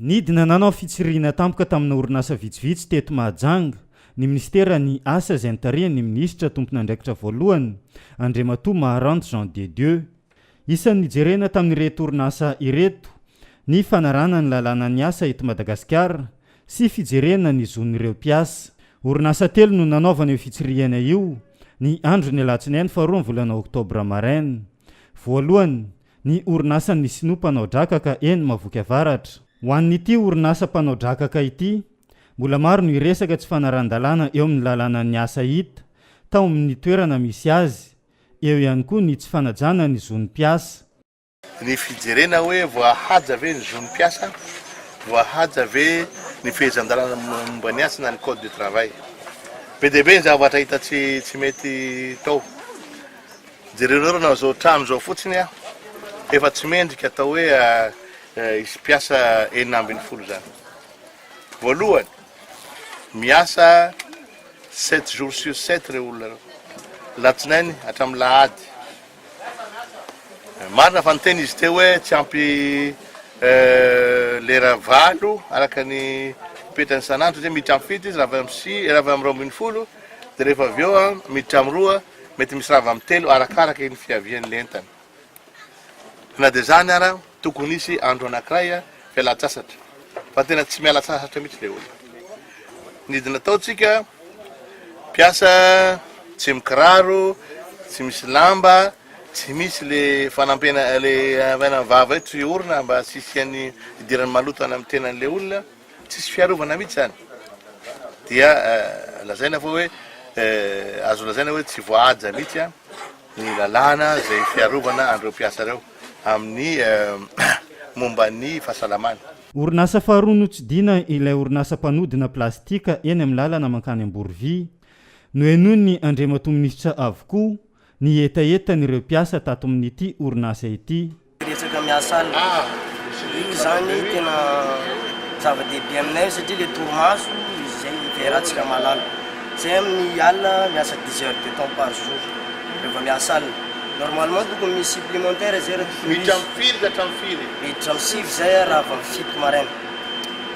Nidina nanao fitsirihina tampoka tamina orinasa vitsivitsy teto Mahajanga ny minisiteran'ny Asa izay notarihan'ny minisitra tompon'andraikitra voalohany, Andriamatoa Maharante Jean de Dieu. Isan'ny nijerena tamin'ireto orinasa ireto ny fanarahana ny lalànan'ny asa eto Madagasikara sy fijerena ny zon'ireo mpiasa. Orinasa telo no nanaovana io fitsirihana io ny andron'ny alatsinainy faharoa ny volana oktobra maraina. Voalohany, Ny orinasan' ny Sinoa mpanao drakaka eny Mahavoky Avaratra. Ho an' ity orinasa mpanao drakaka ity, mbola maro no hiresaka tsy fanarahan-dalàna eo amin' ny lalànan' ny asa hita tao amin' ny toerana misy azy, eo ihany koa ny tsy fanajana ny zo ny mpiasa. Ny fijerena hoe voahaja ve ny zo ny mpiasa, voahaja ve ny fehezan-dalàna momba ny asa na ny Code du travail. Be dia be ny zavatra hita tsy mety tao. Jereo nareo na zao trano zao fotsiny a efa tsy mendrika atao hoe hisy mpiasa enina ambin'ny folo zany. Voalohany miasa sept jours sur sept reo olona reo. Latsinainy hatramin'ny lahady. Marina fa niteny izy teo hoe tsy ampy lera valo araka ny petrany sanandro satria miditra am fito izy raha avy am sivy raha avy am roa ambin'ny folo dia rehefa avy eo miditra am roa Mety misy rava amin'ny telo arakaraka ny fiavian'ny entana. Na dia izany ara, tokony hisy andro anankiray fialan-tsasatra, fa tena tsy miala sasatra mihitsy ilay olona. Ny didy nataontsika, mpiasa tsy mikiraro, tsy misy lamba, tsy misy le fanampiana le avy any amin'ny vava eo tsy orina mba tsy hisian'ny hidiran'ny maloto any amin'ny tenan'ilay olona. Tsisy fiarovana mihitsy izany dia lazaina fa hoe azo lazaina hoe tsy voahaja mihitsy ny lalàna izay fiarovana an'ireo mpiasa ireo amin'ny momba ny fahasalamana. Orinasa faharoa notsidihina ilay orinasa mpanodina plastika eny amin'ny lalana mankany Amborovy. Nohenoin'ny Andriamatoa Minisitra avokoa ny hetahetan'ireo mpiasa tato amin'ity orinasa ity. Betsaka miasa alina. Iny izany tena zava-dehibe aminay satria ilay torimaso izay iverantsika mahalala. Izay amin'ny alina miasa dix heures de temps par jour rehefa miasa alina. Normalement tokony misy supplémentaire izay raha tokony hisy. Miditra amin'ny firy ka hatramin'ny firy? Miditra amin'ny sivy izay raha avy amin'ny fito maraina.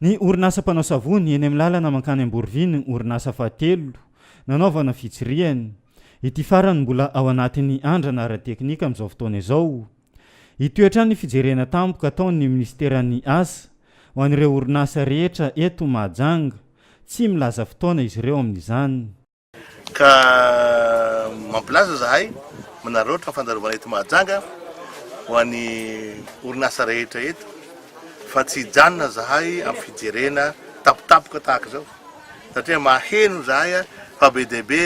Ny orinasa mpanao savony eny amin'ny lalana mankany Amborovy no orinasa fahatelo nanaovana fitsirihana. Ity farany mbola ao anatin'ny andrana ara-teknika amin'izao fotoana izao. Hitohy hatrany ny fijerena tampoka ataon'ny minisiteran'ny Asa ho an'ireo orinasa rehetra eto Mahajanga. Tsy milaza fotoana izy ireo amin'izany. Ka mampilaza zahay manararaotra ny fandalovana eto Mahajanga ho an'ny orinasa rehetra eto fa tsy hijanona zahay amin'ny fijerena tampotampoka tahaka izao satria maheno zahay fa be dia be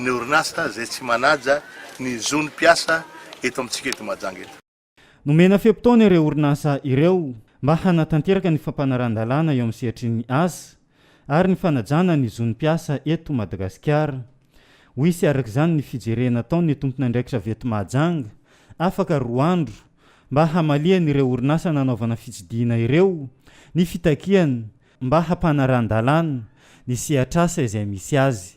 ny orinasa izay tsy manaja ny zon'ny mpiasa eto amintsika eto Mahajanga eto. Nomena fe-potoana ireo orinasa ireo mba hanatanteraka ny fampanaran-dalàna eo amin'ny sehatrin'ny asa ary ny fanajana ny zon'ny mpiasa eto Madagasikara. Ho hisy araka izany ny fijerena ataon'ny tompon'andraikitra avy eto Mahajanga, afaka roa andro, mba hamalian'ireo orinasa nanaovana fitsidihina ireo ny fitakiany mba hampanaran-dalàna ny sehatr'asa izay misy azy.